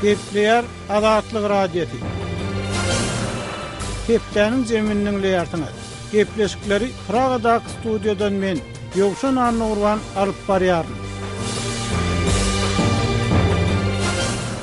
Gepleýär Azatlyk Radiosy. Hepdäniň jemini diňleýärsiňiz. Gepleşikleri Pragadag studiýadan men, Ýowşan Annurwan alyp barýaryn.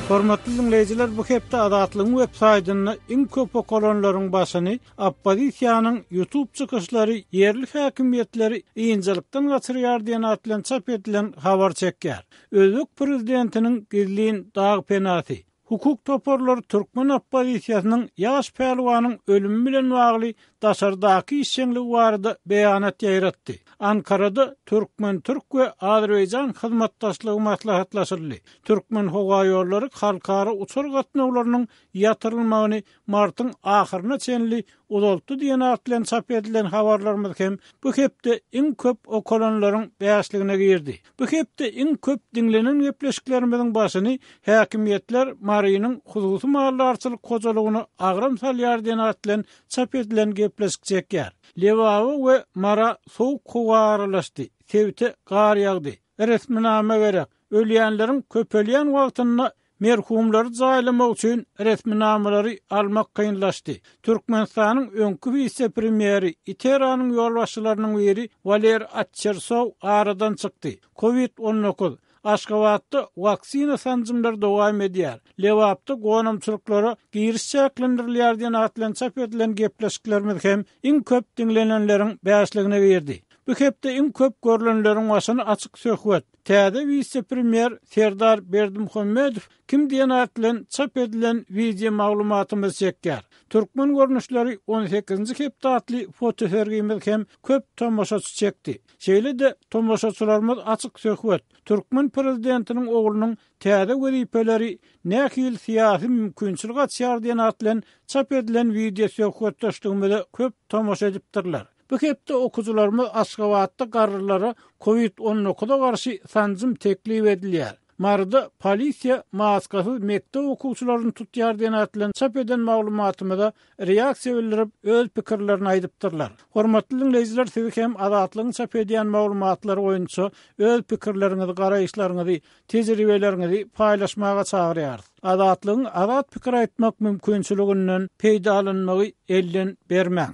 Hormatly diňleýjiler, bu hepde Azatlygyň web saýtynda iň köp okalanlaryň başyny Oppozisiýanyň YouTube çykyşlary ýerli häkimiýetleri ynjalykdan gaçyrýar diýen at bilen çap edilen habar çekýär. Özbek prezidentiniň gizlin dag penasy, hukuk toparlary türkmen oppozisiýasynyň ýaş pälwanyň ölümi bilen bagly daşardaky işjeňligi barada beýanat ýaýratdy. Ankarada türkmen-türk we azerbaýjan hyzmatdaşlygy maslahatlaşyldy. Türkmenhowaýollary halkara uçar gatnawlarynyň ýatyrylmagyny martyň ahyryna çenli uzaltdy diýen at bilen çap edilen habarlarymyz hem bu hepde iň köp okalanlaryň bäşligine girdi. Bu hepde iň köp diňlenen gepleşiklerimiziň başyny häkimiýetler Marynyň hususy maldarçylyk hojalygyna agram salýar diýen at bilen çap edilen gepleşik çekýär. Lebaba we Mara sowuk howa aralaşdy, sebite gar ýagdy. Resminama gerek, ölýänleriň köpelýän wagtynda Merhumlary jaýlamak üçin resminamalary almak kynlaşdy. Türkmenistanyň öňki wise-premýeri, ITERA-nyň ýolbaşçylarynyň biri Waler Atçersow aradan çykdy. Kowid on dokuz, Aşgabatda waksina sanjymlary dowam edýär, Lebapda gonamçylyklara giriş çäklendirilýär diýen at bilen çap edilen gepleşiklerimiz hem iň köp diňlenenleriň bäşligine girdi. Bu hepde iň köp görlenleriň başyny açyk söhbet, Täze wise-premýer Serdar Berdimuhamedow kim diýen at bilen çap edilen wideo maglumatymyzy çekýär. Türkmen görnüşleri on sekizinji hepde atly fotosergimiz hem köp tomaşaçy çekdi. Şeýle-de tomaşaçylarymyz açyk söhbet, türkmen prezidentiniň oglunyň täze wezipeleri nähili syýasy mümkinçilik açýar diýen at bilen çap edilen wideo söhbetdeşligimize köp tomaşa edipdirler. Bu hepde okyjylarymyz Aşgabatda garrylara covid on dokuza garşy sanjym teklip edilýär. Maryda polisiýa maskasyz mekdep okuwçylaryny tutýar diýen at bilen çap eden maglumatymyza reaksiýa bildirip, öz pikirlerini aýdypdyrlar. Hormatly diňleýjiler siz hem Azatlygyň çap edýän maglumatlary boýunça öz pikirleriňizi, garaýyşlaryňyzy, tejribeleriňizi paýlaşmaga çagyrýarys. Azatlygyň azat pikir aýtmak mümkinçiliginden peýdalanmagy elden bermäň!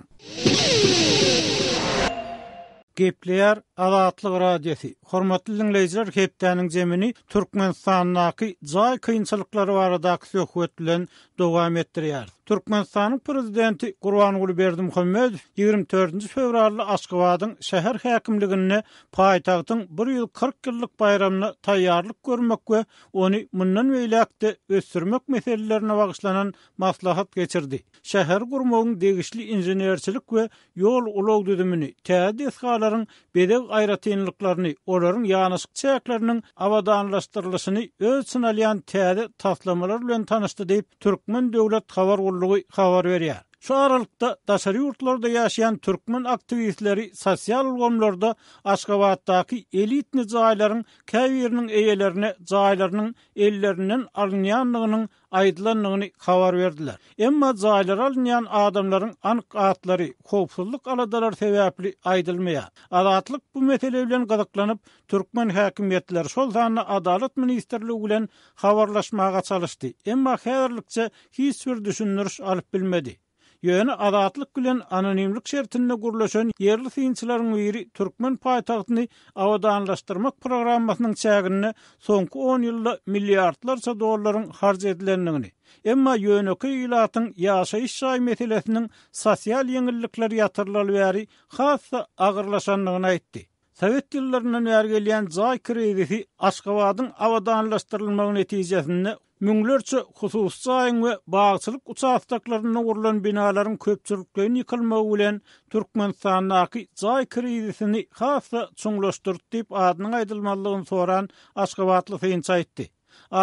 Gepleýär Azatlyk Radiosy. Hormatly diňleýjiler, hepdäniň jemini Türkmenistandaky jaý kynçylyklary baradaky söhbet bilen dowam etdirýäris. Türkmenistanyň Prezidenti Gurbanguly Berdimuhamedow ýigrimi dördünji fewralda Aşgabadyň şäher häkimliginde paýtagtyň bir ýüz kyrk ýyllyk baýramyna taýýarlyk görmek we ony mundan beýläk-de ösdürmek meselelerine bagyşlanan maslahat geçirdi. Şäheri gurmagyň degişli inženerçilik we ýol-ulag düzümini, täze desgalaryň bezeg aýratynlyklaryny, olaryň ýanaşyk çäkleriniň abadanlaşdyrylyşyny öz içine alýan täze taslamalar bilen tanyşdy diýip, Türkmen döwlet habar gullugy habar berýär. Şu aralykda, daşary ýurtlarda ýaşaýan türkmen aktiwistleri sosial ulgamlarda Aşgabatdaky elitni jaýlaryň käbiriniň eýelerine jaýlarynyň ellerinden alynýandygynyň aýdylandygyny habar berdiler. Emma jaýlary alynýan adamlaryň anyk atlary howpsuzlyk aladalary sebäpli aýdylmaýar. Azatlyk bu mesele bilen gyzyklanyp, türkmen häkimiýetleri, şol sanda Adalat ministrligi bilen habarlaşmaga çalyşdy, emma häzirlikçe hiç bir düşündiriş alyp bilmedi. Ýöne Azatlyk bilen anonimlik şertinde gürleşen ýerli synçylaryň biri türkmen paýtagtyny abadanlaşdyrmak programmasynyň çäginde soňky on ýylda milliardlarça dollaryň harç edilendigini, emma ýönekeý ilatyň ýaşaýyş jaý meselesiniň sosial ýeňillikler ýatyrylaly bäri has-da agyrlaşandygyny aýtdy. Sowet ýyllaryndan bäri gelýän jaý krizisi Aşgabadyň abadanlaşdyrylmagy netijesinde Müňlerçe hususy jaýyň we bagçylyk uçastoklarynda gurlan binalaryň köpçülikleýin ýykylmagy bilen Türkmenistandaky jaý krizisini has-da çuňlaşdyrdy diýip, adynyň aýdylmazlygyny soran aşgabatly synçy aýtdy.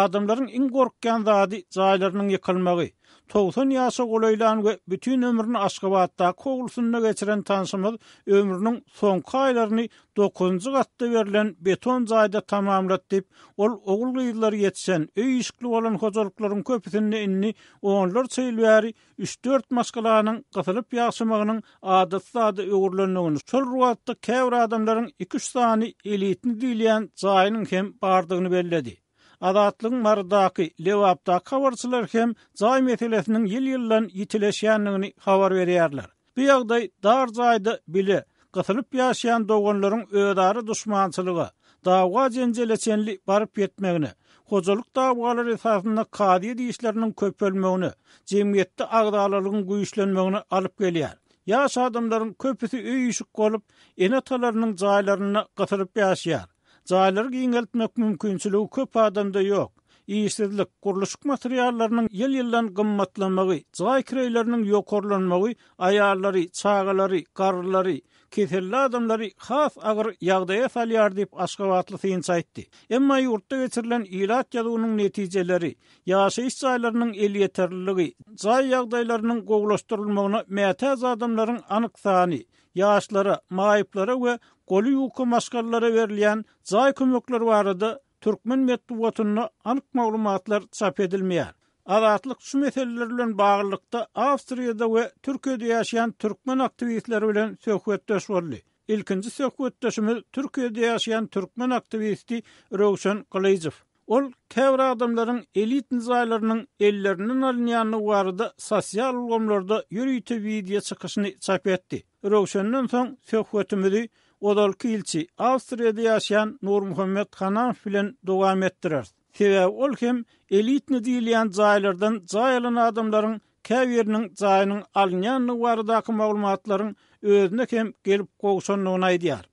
Adamlaryň iň gorkýan zady jaýlarynyň ýykylmagy. Togsan ýaşa golaýlan we bütin ömrüni Aşgabatdaky howlusynda geçiren tanşymyz ömrüniň soňky aýlaryny Dokuzynjy gatda berlen beton jaýda tamamlat diýip, ol ogul-gyzlary ýetişen, öý-işikli bolan hojalyklaryň köpüsinde indi onlarça ýyl bäri üç-dört maşgalanyň gysylyp ýaşamagynyň adaty zada öwrülendigini, şol ruwatda käbir adamlaryň iki-üç sany elitni diýilýän jaýynyň hem bardygyny belledi. Azatlygyň Marydaky, Lebapdaky habarçylary hem jaý meselesiniň ýyl-ýyldan ýitileşýändigini habar berýärler. Bu ýagdaý dar jaýda bile gysylyp ýaşaýan doganlaryň özara duşmançylyga, dawga-jenjele çenli baryp ýetmegine, hojalyk dawalary esasynda kazyýet işleriniň köpelmegine, jemgyýetde agzalalygyň güýçlenmegine alyp gelýär. Ýaş adamlaryň köpüsi öý-işik bolup, ene-atalarynyň jaýlarynda gysylyp ýaşaýar. Jaýlary giňeltmek mümkinçiligi köp adamda ýok. Işsizlik, gurluşyk materiallarynyň ýyl-ýyldan gymmatlamagy, jaý kireýleriniň ýokarlanmagy aýallary, çagalary, garrylary, keselli adamlary has agyr ýagdaýa salýar diýip, aşgabatly synçy aýtdy. Emma ýurtda geçirilen ilat ýazuwynyň netijeleri, ýaşaýyş jaýlarynyň elýeterliligi, jaý ýagdaýlarynyň gowulaşdyrylmagyna mätäç adamlaryň anyk sany, ýaşlara, maýyplara we goly ýuka maşgalalara berilýän jaý kömekleri barada türkmen metbugatynda anyk maglumatlar çap edilmeýär. Azatlyk şu meseleler bilen baglylykda Awstriýada we Türkiýede ýaşaýan türkmen aktiwistleri bilen söhbetdeş boldy. Ilkinji söhbetdeşimiz Türkiýede ýaşaýan türkmen aktiwisti Röwşen Gylyjow. Ol käbir adamlaryň elit nizaýlarynyň ellerinden alynýandygy barada sosial ulgamlarda ýörite wideo çykyşyny çap etdi. Röwşenden soň söhbetimizi ozalky ilçi, Awstriýada ýaşaýan Nurmuhammet Hanamow bilen dowam etdireris. Sebäbi ol hem elitni diýilýän jaýlardan jaý alan adamlaryň käbiriniň jaýynyň alynýandygy baradaky maglumatlaryň özüne hem gelip gowşandygyny aýdýar.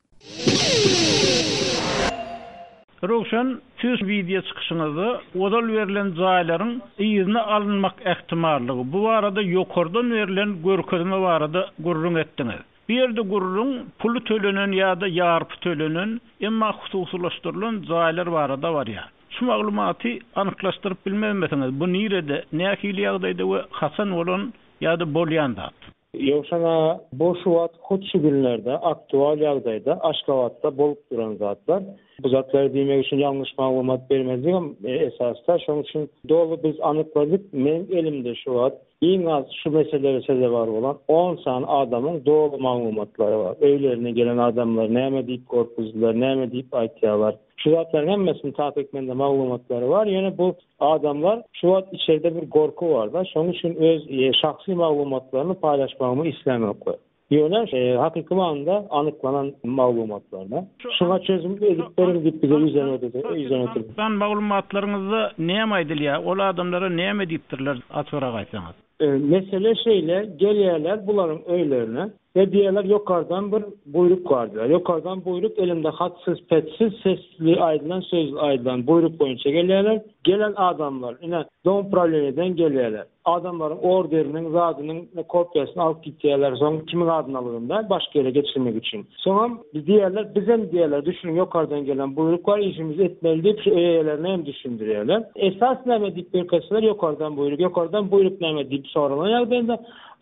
Röwşen, siz wideo çykyşyňyzda ozal berlen jaýlaryň yzyna alynmak ähtimallygy, bu barada ýokardan berlen görkezme barada gürrüň etdiňiz. Bu ýerde gürrüň puly tölenen ýa-da ýarpy tölenen, emma hususylaşdyrylan jaýlar barada barýar. Şu maglumaty anyklaşdyryp bilmezmisiňiz, bu nirede, nähili ýagdaýda we haçan bolan ýa-da bolýan zat? Ýowşan aga, bu şu wagt hut şu günlerde aktual ýagdaýda Aşgabatda bolup duran zatlar. Bu zatlary diýmek üçin ýalňyş maglumat bermezligim esasda. Şonuň üçin doly biz anykladyk. Meniň elimde şu wagt iň az şu meselelere sezewar bolan on sany adamyň doly maglumatlary bar. Öýlerine gelen adamlar näme diýip gorkuzdylar, näme diýip aýtýarlar. Şu zatlaryň hemmesini takyk mende maglumatlary bar, ýöne bu adamlar şu wagt içerde bir gorky barda, şonuň üçin öz şahsy maglumatlaryny paýlaşmagymy islämoklar. Ýöne hakyky manynda anyklanan maglumatlaryna. Şuňa çözüm edip beriň diýip bize ýüzlenipdir. Maglumatlaryňyzda näme aýdylýar? Ol adamlara näme diýipdirler, açygyrak aýtsaňyz? Mesele şeýle, gelýärler bularyň öýlerine we diýýärler, ýokardan bir buýruk bar diýýär. Ýokardan buýruk elimde hatsyz, petsiz, sesli aýdylan, sözli aýdylan buýruk boýunça gelýärler. Gelen adamlar, ine, domuprowleniýeden gelýärler. Adamlaryň orderiniň, zadynyň kopiýasyny alyp gidýärler, soň kimiň adyna algynda, başga ýere geçirmek üçin. Soňam biz diýerler, bizem diýerler, düşüniň, ýokardan gelen buýruk bar, işimizi etmeli diýip, şu eýelerine hem düşündirýärler. Esas näme diýip ýörkäseler, ýokardan buýruk, ýokardan buýruk näme diýip soralan ýagdaýynda,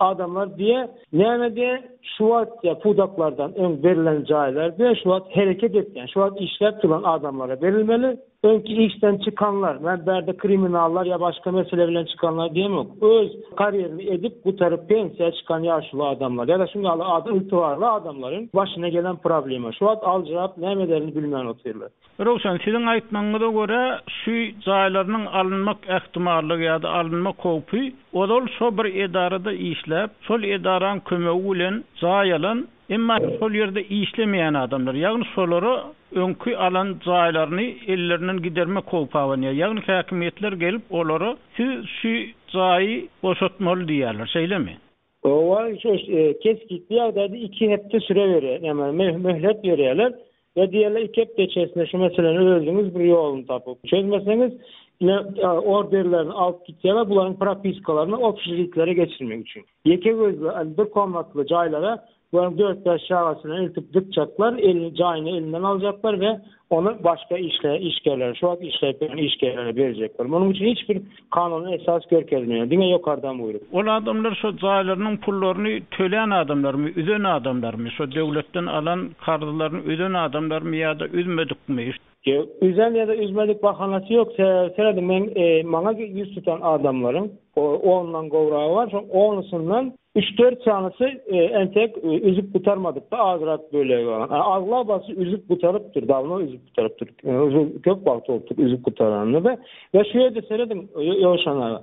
adamlar diýýär, näme diýýär, şu wagt diýýär, pudaklardan öň berlen jaýlar diýýär, şu wagt hereket etýän, şu wagt işläp duran adamlara berilmeli. Öňki işden çykanlar, men bärde kriminallar ýa başga mesele bilen çykanlar diýemok, öz karýerini edip gutaryp pensiýa çykan ýaşuly adamlar ýa-da şuň ýaly adam ygtybarly adamlaryň başyna gelen problema. Şu wagt aljyrap näme ederini bilmän otyrlar. Röwşen, siziň aýtmagyňyza görä, şu jaýlarynyň alynmak ähtimallygy ýa-da alynmak howpy ozal şo bir edarada işläp, şol edaraň kömegi bilen jaý alan, Emma şol ýerde işlemeýän adamlar, ýagny şolara öňki alan jaýlaryny ellerinden gidermek howpy abanýar. Ýagny häkimiýetler gelip olara siz şu jaýy boşatmaly diýýärler, şeýlemi? Owa, şu kesgitli ýagdaýda iki hepde süre berýär, näme, möhlet berýärler. Ýa diýeli iki hepde içerisinde şu meseleni özüňiz bir ýoluny tapyp çözmeseňiz ine orderlerini alyp gitýärler bularyň propiskalaryny obşeritlere geçirmek üçin. Ýeke gözli al bir komnatly jaýlara bularyň dört-bäş çagasyny eltip dykjaklar elini jaýyny elinden aljaklar we ony başga işle işgerlere şu wagt işleýän işgerlere berjekler. Munuň üçin hiç bir Kanunyň esas görkezme, diňe ýokardan buýruk. Ol adamlar şo jaýlarynyň pullaryny tölän adamlarmy, üzen adamlarmy, şo döwletden alan karzlaryny üzen adamlarmy ýa-da üzmedikmi? Ýok, üzen ýa-da üzmedik bahanasy ýok. Sebäbi serediň, meň maňa ýüz tutan adamlaryň ondan gowragy bar, şoň onusyndan üç-dört sanysy entek üzüp gutarmadypdy, azrak bölegi bar. Aglabasy üzüp gutarypdyr, dawno üzüp gutarypdyr. Köp wagt bolupdyr üzüp gutaranyna-da. Ýa şu ýerde serediň ýowşanlara.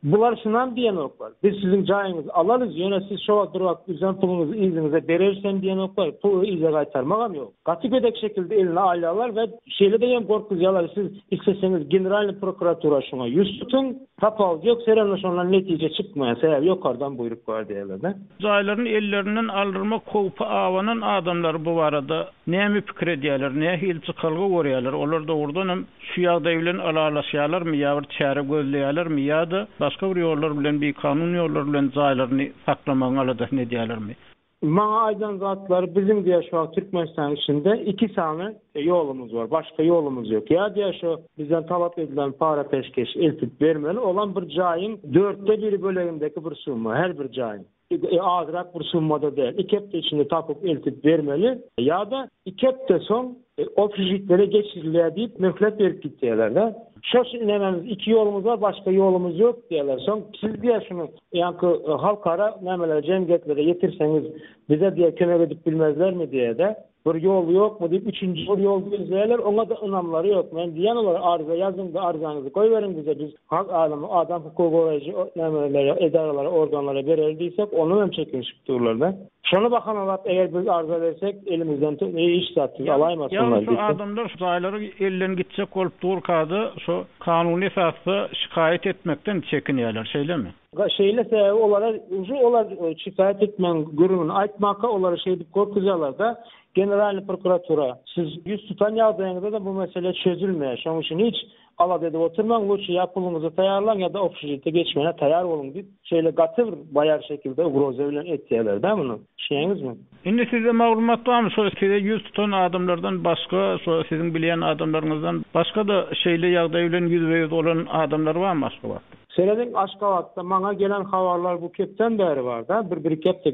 Bular şunam diýenoklar, biz siziň jaýyňyzy alarys, ýöne siz şo wagt bir wagt üzen puluňyzy yzyňyza bereris hem diýenoklar, puly yza gaýtarmagam ýok. Gaty gödek şekilde eline alýarlar we şeýle deýem gorkuzýarlar, siz isleseňiz generalnyý prokuratura şuňa ýüz tutuň, tapawudy ýok, serende şondan netije çykmaýar, sebäbi ýokardan buýruk bar diýýärler-de. Jaýlaryny ellerinden aldyrmak howpy abanan adamlar bu barada näme pikir edýärler, nähili çykalga görýärler, olar dogrudan hem şu ýagdaý bilen ylalaşýarlarmy ýa bir çäre gözleýärlermi ýa-da başga bir ýollar bilen bikanun ýollar bilen jaýlaryny saklamagyň aladasyny edýärlermi? Maňa aýdan zatlary biziň diýýär şu wagt Türkmenistanyň içinde iki sany ýolumyz bar, başga ýolumyz ýok. Ýa diýýär şu bizden talap edilen para peşgeşi eltip bermeli, olam bir jaýyň dörtde biri bölegindäki bir summa, her bir jaýyň. Azrak bir summada däl. Iki hepde içinde tapyp eltip bermeli ýa-da iki hepde soň opžitlere geçirilýär diýip möhlet berip gitýärler-de. Şo şu nämämiz iki ýolumyz bar başga ýolumyz ýok diýýärler. Soň siz diýýär şuny ýaňky halkara nämelere jemgyýetlere ýetirseňiz bize diýýär kömek edip bilmezlermi diýýär-de. Bir ýol ýokmy diýip üçünji bir ýol gözleýärler, oňa-da ynamlary ýok. Men diýýän olara, arza ýazyň-da, arzaňyzy goýberiň bize, biz halk alemy, adam hukugy goraýjy nämelere, edaralara, organlara bereris diýsek, ondan hem çekinişip durlar-da. Şony bahanalap, eger biz arza bersek, elimizden hiç zat siz alaýmasynlar diýip. Ýagny şo adamlar şo jaýlary elden gitjek bolup durka-da, şo kanuny esasda şikaýat etmekden çekinýärler, şeýlemi? Şeýle sebäbi olara uje olar şikaýat etmegiň gürrüňini aýtmaka olary şeýdip gorkuzýarlar-da, Generalnyý prokuratura, siz ýüz tutan ýagdaýyňyzda-da bu mesele çözülmeýär, şonuň üçin hiç alada edip oturmaň, lutşy ýa puluňyzy taýýarlaň, ýa-da obşujite geçmäne taýýar boluň diýip, şeýle gaty bir baýar şekilde ugroza bilen etýärler-dä muny. Düşünýäňizmi? Indi sizde maglumat barmy, şo size ýüz tutan adamlardan başga, şo siziň bilýän adamlaryňyzdan başga-da şeýle ýagdaý bilen ýüzbe-ýüz bolan adamlar barmy Aşgabatda? Şeýlelik Aşgabatda maňa gelen habarlar bu kepden bäri bar-da, bir bir-iki hepde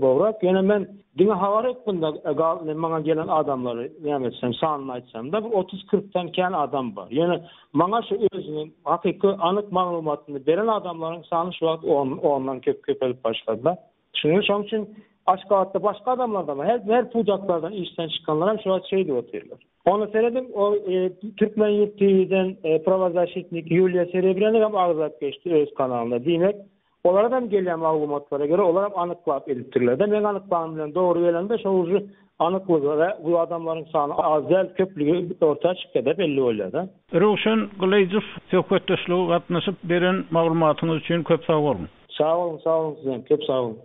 gowrak. Ýöne men diňe habar etdim-de gal, indi maňa gelen adamlary näme etsem, sanyny aýtsam-da, bir otuz-kyrkdan kän adam bar. Ýöne maňa şu özüniň hakyky anyk maglumatyny beren adamlaryň sany şu wagt on, ondan köp köpelip başlady-da. Çünki şoň üçin Aşgabatda başga adamlardan, her her pudaklardan işden çykanlar hem şular şeýdip otyrlar. Ony serediň, o Türkmen ýurt TV-den prawazaşitnik Ýuliýa Serebrýana hem agzap geçdi öz kanalynda. Diýmek, olara hem gelýän maglumatlara görä, olar hem anyklap edipdirler-de. Meň anyklanym bilen dogry gelende, şo uji anyklygy we bu adamlaryň sany az däl, köplügi orta çykýar-da, belli bolýar-da. Röwşen Gylyjow, söhbetdeşlige gatnaşyp, beren maglumatyňyz üçin köp sag boluň! Sag boluň sag boluň sizem köp sag boluň.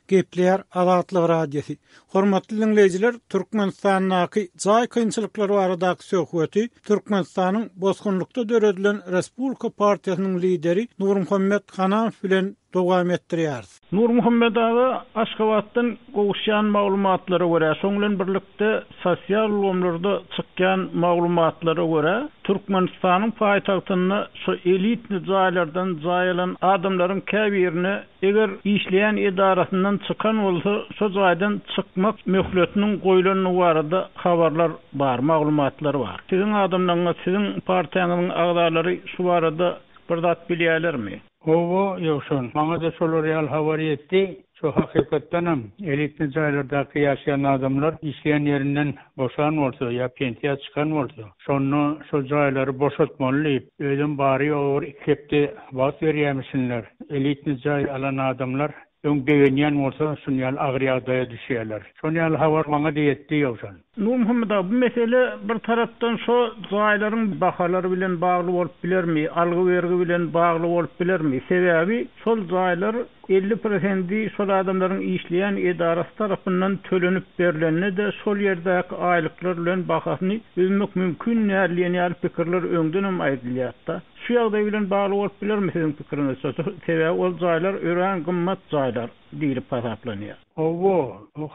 Gepleýär Azatlyk Radiosy. Hormatly diňleýjiler, Türkmenistandaky jaý kynçylyklary baradaky söhbeti Türkmenistanyň bosgunlykda döredilen Respublika partiýasynyň lideri Nurmuhammet Hanafow bilen dowam etdirýäris. Nurmuhammet aga Aşgabatdan gowuşýan maglumatlara görä, şoň bilen birlikde sosial ulgamlarda çykýan maglumatlara görä, Türkmenistanyň paýtagtynda şu elitny jaýlardan jaý alan adamlaryň käbirine eger işleýän edarasyndan çykan bolsa, şo jaýdan çykmak möhletiniň goýlandygy barada habarlar bar, maglumatlar bar. Siziň adamlaryňyz, siziň partiýaňyzyň agzalary şu barada bir zat bilýärlermi? Howwa, Ýowşan, maňa-da şolar ýaly habar ýetdi. Şo hakykatdanam, elitny jaýlardaky ýaşaýan adamlar işleýän ýerinden boşan bolsa ýa pensiýa çykan bolsa, şonda şo jaýlary boşatmaly diýip, özem bary-ýogy bir iki hepde wagt berýämişinler. Elitny jaý alan adamlar Öň begenýän bolsa, şun ýaly agyr ýagdaýa düşýärler. Şon ýaly habar maňa-da ýetdi, ýowşan. Nurmuhammet aga, bu mesele bir tarapdan şo jaýlaryň bahalary bilen bagly bolup bilermi, algy-bergi bilen bagly bolup bilermi? Sebäbi şol jaýlar elli prosendi şol adamlaryň işleýän edarasy tarapyndan tölenip berlende-de şol ýerdäki aýlyklar bilen bahasyny üzmek mümkin däl diýen ýaly pikirler öňdenem aýdylýardy-da. Şu ýagdaý bilen bagly bolup bilermi siziň pikiriňizçe? Sebäbi ol jaýlar örän gymmat jaýlar diýlip hasaplanýar. Hawa,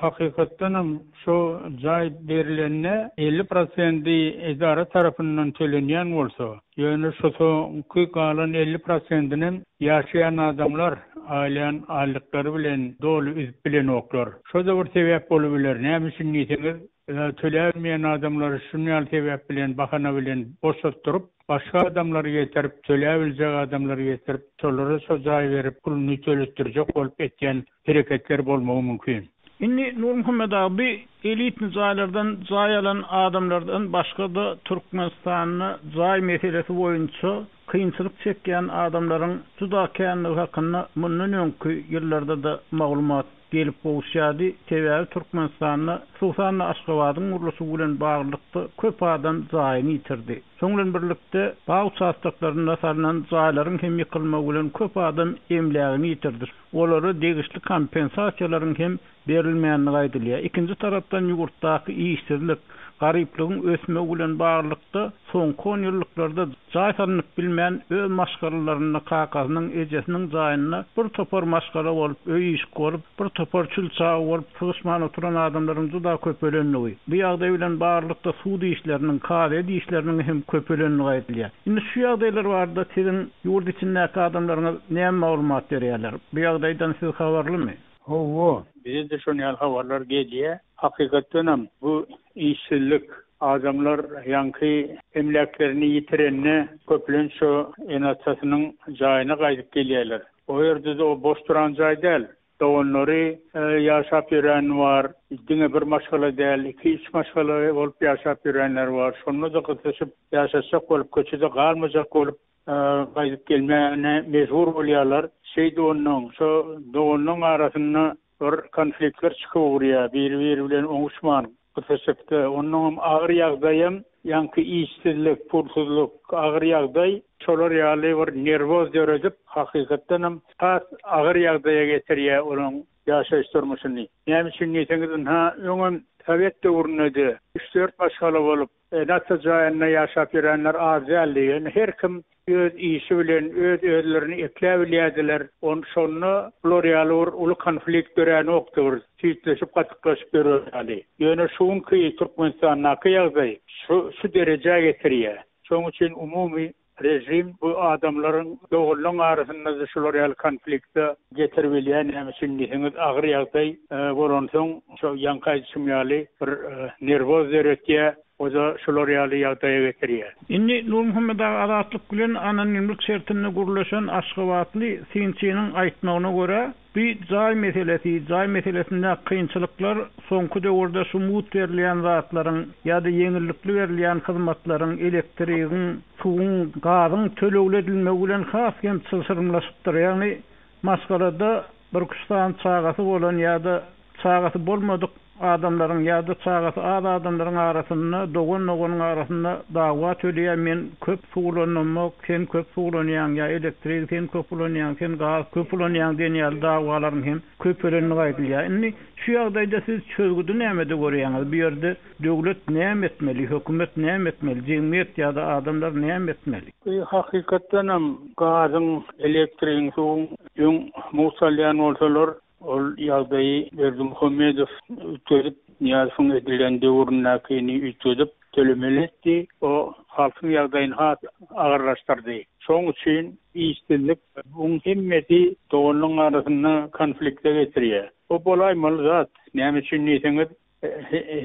hakykatdan hem şo jaý berilende elli prosendi edara tarapyndan tölenýän bolsa, ýöne şo soňky galan elli prosendinem ýaşaýan adamlar aýlaýan aýlyklary bilen doly üzüp bilenoklar. Şo-da bir sebäp bolubiler. Näme üçin diýseňiz, Ýa töläbilmeýän adamlary şuny ýaly sebäp bilen, bahana bilen boşatdyryp, başga adamlary getirip, töläbiljek adamlary getirip, şolara şo jaýy berip, puluny töletdirjek bolup etýän hereketler bolmagy mümkin. Indi Nurmuhammet aga bi elitni jaýlardan jaý alan adamlardan başga-da Türkmenistanda jaý meselesi boýunça, kynçylyk çekýän adamlaryň juda kändigi hakynda mundan öňki ýyllarda-da maglumat gelip gowuşýardy, sebäbi Türkmenistanda, hususan-da Aşgabadyň gurluşygy bilen baglylykda köp adam jaýyny ýitirdi. Şoň bilen birlikde, bag uçastoklarynda salnan jaýlaryň hem ýykylmagy bilen köp adam emlägini ýitirdi, olara degişli kompensasiýalaryň hem berilmänligi aýdylýar. Ikinji tarapdan ýurtdaky işsizlik, garyplygyň ösmegi bilen baglylykda soňky on ýyllyklarda jaý salnyp bilmän öz maşgalalarynda kakasynyň, ejesiniň jaýynda bir topar maşgala bolup, öý işik bolup, bir topar çül çagy bolup sygyşman oturan adamlaryň juda köpelendigi, bu ýagdaý bilen baglylykda sud işleriniň, kazyýet işleriniň hem köpelendigi aýdylýar. Indi şu ýagdaýlar barada siziň ýurt içindäki adamlaryňyz näme maglumat berýärler? Bu ýagdaýdan siz habarlymy? Hawa. Bize-de şon ýaly habarlar gelýä. Hakykatdanam bu işsizlik, adamlar ýaňky emläklerini ýitirende köplenç şo ene-atasynyň jaýyna gaýdyp gelýärler. O ýerde-de o boş duran jaý däl. Doganlary ýaşap ýöreni bar. Diňe bir maşgala däl, iki-üç maşgala bolup ýaşap ýörenleri bar. Şonda-da gysyşyp ýaşaşjak bolup, köçede galmajak bolup. gaýdyp gelmäne mejbur bolýarlar. Şeýdip onnoň, şo doganlaň arasynda bir konfliktler çykyp ugrýar, biri-biri bilen oňuşman, gysyşykda. Onnoň hem agyr ýagdaýam, ýaňky işsizlik, pulsuzlyk, agyr ýagdaý şolar ýaly bir nerwoz döredip, hakykatdan hem has agyr ýagdaýa getirýär olaň ýaşaýyş durmuşyny. Näme üçin diýseňiz, ynha, öňem sowet döwründe-de üç-dört maşgala bolup, Ene-ata jaýynda ýaşap ýörenler az däldi. Ýöne her kim öz işi bilen öz-özlerini ekläbilýärdiler. On şonda bular ýaly bir uly konflikt döränokdy, bir süýtleşip, gatyklaşyp ýörer ýaly. Ýöne şu günki Türkmenistandaky ýagdaý şu şu derejä getirýär. Şonuň üçin umumy Režim bu adamlaryň dogrylaň arasynda şular ýaly konflikte getirip ilýär näme üçin diýseňiz agyr ýagdaý bolansoň şo ýaňky aýdyşym ýaly bir nerwoz döretýär oda şular ýaly ýagdaýa getirýär. Indi Nurmuhammet aga Azatlyk bilen anonimlik şertinde gürleşen aşgabatly synçynyň aýtmagyna görä, Bi jaý meselesi, jaý meselesindäki kynçylyklar soňky döwürde şu mut berilýän zatlaryň ýa-da ýeňillikli berilýän hyzmatlaryň, elektrigiň, suwuň, gazyň tölegli edilmegi bilen has hem çylşyrymlaşypdyr. Ýagny maşgalada birküç sany çagasy bolan ýa-da Çagasy bolmadyk adamlaryň ýa-da çagasy az adamlaryň arasynda, dogan-doganyň arasynda dawa töleýär, men köp suw ulanamok, sen köp suw ulanýaň ýa elektrigi sen köp ulanýaň, sen gaz köp ulanýaň diýen ýaly dawalaryň hem köpelendigi aýdylýar. Indi şu ýagdaýda siz çözgüdi nämede görýäňiz? Bu ýerde döwlet näme etmeli, hökümet näme etmeli, jemgyýet ýa-da adamlar näme etmeli? Bu hakykatdanam gazyň, elektrigiň, suwuň öň mugt salýan bolsalar, Ol ýagdaýy Berdimuhamedow üýtgedip, Nyýazowyň edilen döwründäkini üýtgedip tölemeli etdi. O halkyň ýagdaýyny has agyrlaşdyrdy. Şoň üçin işsizlik, buň hemmesi doganlaryň arasynda konflikte getirýär. Bu bolaýmaly zat. Näme üçin diýseňiz,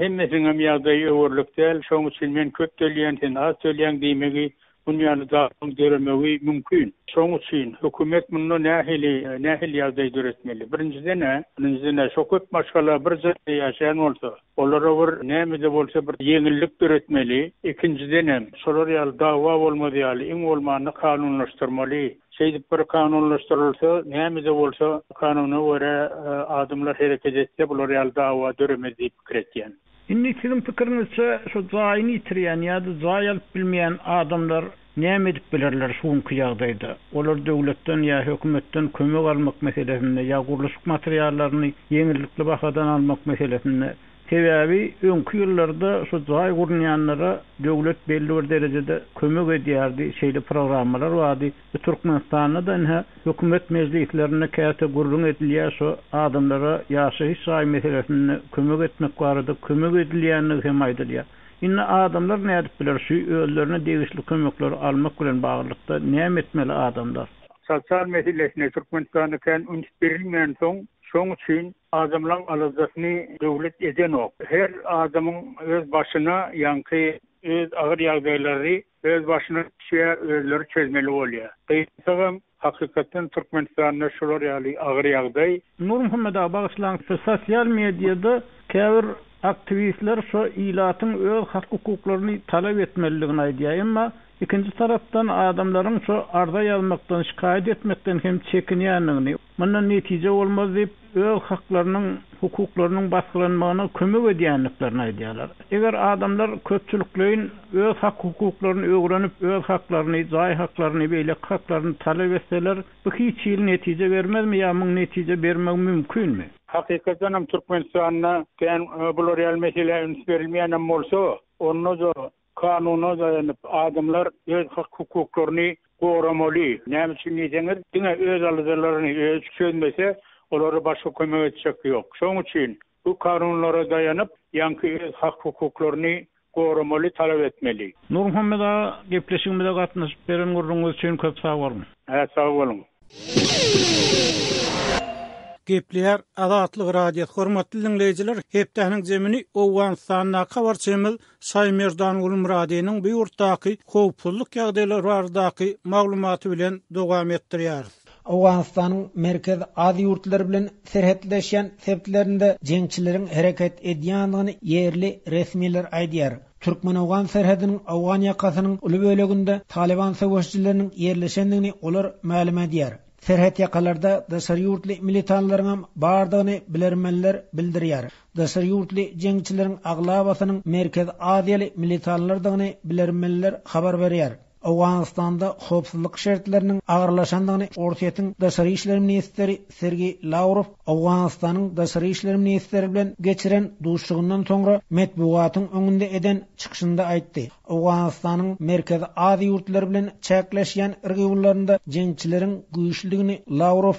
Hemmesiniňem ýagdaýy öwerlik däl, şonuň üçin men köp töleýän, sen az töleýäň diýmegi, dünýäni dagmagyň döremegi mümkin. Şonuň üçin hökümet munda nähili, nähili ýagdaý döretmeli? Birinjiden-ä, birinjiden-ä şo köp maşgala bir jaýda ýaşaýan bolsa, olara bir näme-de bolsa bir ýeňillik döretmeli. Ikinjidenem, şolar ýaly dagwa bolmaz ýaly, iň bolmanda kanunlaşdyrmaly. Şeýdip bir kanunlaşdyrylsa, näme-de bolsa kanuna görä adamlar hereket etse, bular ýaly dawa döremez diýip pikir etýän. Indi siziň pikiriňizçe şu jaýyny ýitirýän ýa-da jaý alyp bilmeýän adamlar näme edip bilerler şu günki ýagdaýda? Olar döwletden ýa hökümetden kömek almak meselesinde ýa gurluşyk materiallaryny ýeňillikli bahadan almak meselesinde Sebäbi öňki ýyllarda şu jaý gurnýanlara döwlet belli bir derejede kömek edýärdi, şeýle programmalar bardy. Bu Türkmenistanda-da ynha hökümet mejlislerinde käte gürrüň edilýär, şu adamlara ýaşaýyş jaý meselesinde kömek etmek barada kömek edilýändigi hem aýdylýar. Indi adamlar nädip biler, şu özlerine degişli kömekleri almak bilen baglylykda näme etmeli adamlar? Sosial meselesine Türkmenistanda kän üns berilmänsoň, şoň üçin Adamlaň aladasyny döwlet edenok. Her adamyň öz başyna ýaňky öz agyr ýagdaýlary öz başyna düşýä özleri çözmeli bolýa. Gyýynsagam hakykatdan Türkmenistanda şular ýaly agyr ýagdaý. Nurmuhammet aga bagyşlaň size sosial mediada käbir aktiwistler şo ilatyň öz hak hukuklaryny talap etmelidigini aýdýa emma ikinji tarapdan adamlaryň şo arza ýazmakdan şikaýat etmekden hem çekinýändigini, Mundan netije bolmaz diýip, öz haklarynyň, hukuklarynyň basgylanmagyna kömek edýändiklerini aýdýarlar. Eger adamlar köpçülikleýin öz hak-hukuklaryny öwrenip, öz haklaryny, jaý haklaryny, beýleki haklaryny talap etseler, bu hiç hili netije bermezmi ýa muň netije bermegi mümkinmi? Hakykatdanam Türkmenistanda kän bular ýaly meselä üns berilmeýän hem bolsa, onda-da Kanuna daýanyp, adamlar öz hak-hukuklaryny goramaly. Näme üçin diýseňiz, diňe öz aladalaryny özi çözmese, olara başga kömek etjek ýok. Şonuň üçin bu kanunlara daýanyp, ýaňky öz hak-hukuklaryny goramaly, talap etmeli. Nurmuhammet aga, gepleşigimize gatnaşyp beren gürrüňiňiz üçin köp sag boluň! Hä, sag boluň! Gepleýär Azatlyk Radiosy. Hormatly diňleýjiler, hepdäniň jemini Owganystandaky habarçymyz Saýmerdan Gulmyradynyň bu ýurtdaky howpsuzlyk ýagdaýlary baradaky maglumaty bilen dowam etdirýäris. Owganystanyň Merkezi Aziýa ýurtlary bilen serhetleşýän sebtlerinde jeňçileriň hereket edýändigini ýerli resmiler aýdýar. Türkmen-owgan serhediniň owgan ýakasynyň uly böleginde Talyban söweşijileriniň ýerleşendigini olar mälim edýär. Serhetýakalarda daşary ýurtly militanlaryňam bardygyny bilermenler bildirýär. Daşary ýurtly jeňçileriň aglabasynyň merkez aziýaly militanlardygyny bilermenler habar berýär. Owganystanda howpsuzlyk şertleriniň agyrlaşandygyny Orsýetiň daşary işler ministri Sergeý Lawrow Owganystanyň daşary işler ministri bilen geçiren duşuşygyndan soňra metbugatyň öňünde eden çykyşynda aýtdy. Owganystanyň Merkezi Aziýa ýurtlary bilen çäkleşýän rgionlarynda jeňçileriň güýçlüdigini Lawrow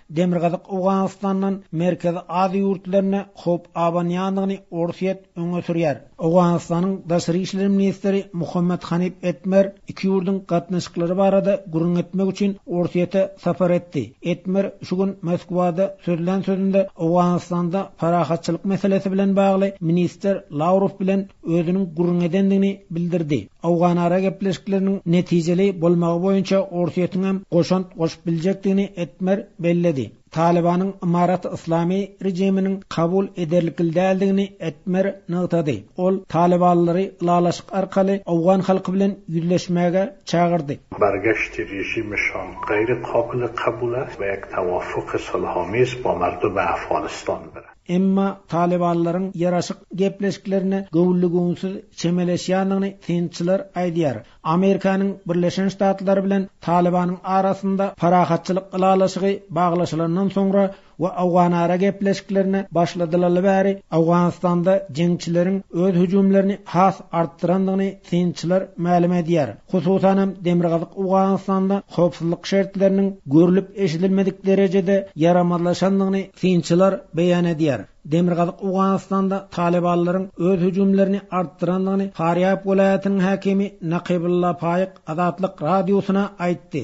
Demirgazyk Owganystandan Merkezi Aziýa ýurtlaryna howp abanýandygyny Orsýet öňe sürýär. Owganystanyň daşary işler ministri Muhammad Hanip Etmer iki ýurduň gatnaşyklary barada gürrüň etmek üçin Orsýete sapar etdi. Etmer şu gün Moskwada sözlän sözünde Owganystanda parahatçylyk meselesi bilen bagly ministr Lawrow bilen özüniň gürrüň edendigini bildirdi. Owganara gepleşikleriniň netijeli bolmagy boýunça Orsýetiň hem goşant goşup biljekdigini Etmer belledi. Talybanyň ymarat-yslamy režiminiň kabul ederlikli däldigini Etmer nygtady. Ol talybanlary ylalaşyk arkaly owgan halky bilen ýüzleşmäge çagyrdy. Bargeşdi režimi şoň gaýry kobili kabula we tawaffuky sulhomiz bolardy we Afganistan bir. Emma talybanlaryň ýaraşyk gepleşiklerine göwünli-göwünsiz çemeleşýändigini synçylar aýdýar. Amerikanyň Birleşen Ştatlary bilen Talybanyň arasynda parahatçylyk ylalaşygy baglaşylandan soňra we awganara gepleşiklerine başladylaly bäri Awganystanda jeňçileriň öz hüjümlerini has artdyrandygyny synçylar mälim edýär. Hususan hem, Demirgazyk Owganystanda howpsuzlyk şertleriniň görlüp-eşidilmedik derejede ýaramazlaşandygyny synçylar beýan edýär. Demirgazyk Owganystanda talybanlaryň öz hüjümlerini artdyrandygyny Farýab welaýatynyň häkimi Nakybulla Paýyk Azatlyk Radiosyna aýtdy.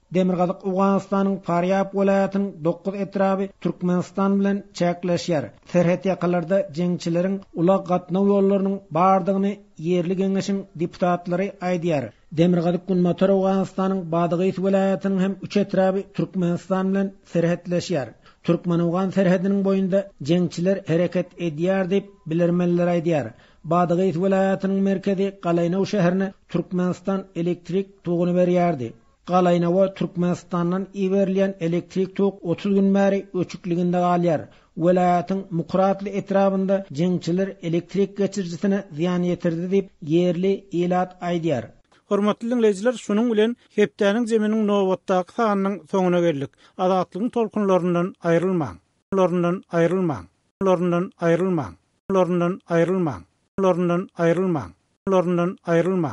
Demirgazyk Owganystanyň Parýab welaýatynyň dokuz etraby Türkmenistan bilen çäkleşýär. Serhetýakalarda jeňçileriň ulag gatnaw ýollarynyň bardygyny ýerli geňeşiň deputatlary aýdýar. Demirgazyk-Günbatar Owganystanyň Badagys welaýatynyň hem üç etraby Türkmenistan bilen serhetleşýär. Türkmen-owgan serhediniň boýunda jeňçiler hereket edýär diýip, bilermenler aýdýar. Badagys welaýatynyň merkezi Galaýnow şäherine Türkmenistan elektrik toguny berýärdi. Galaýnowa Türkmenistandan iberilýän elektrik tok otuz gün bäri öçükliginde galýar. Welaýatyň Mukratly etrabynda jeňçiler elektrik geçirijisine zyýan ýetirdi diýip, ýerli ilat aýdýar. Hormatly diňleýjiler, şunuň bilen Hepdäniň Zeminiň nobatdaky sanynyň soňuna geldik. Azatlygyň tolkunlaryndan aýrylmaň! laryndan aýrylmaň! laryndan aýrylmaň! laryndan aýrylmaň! laryndan aýrylmaň! laryndan aýrylmaň!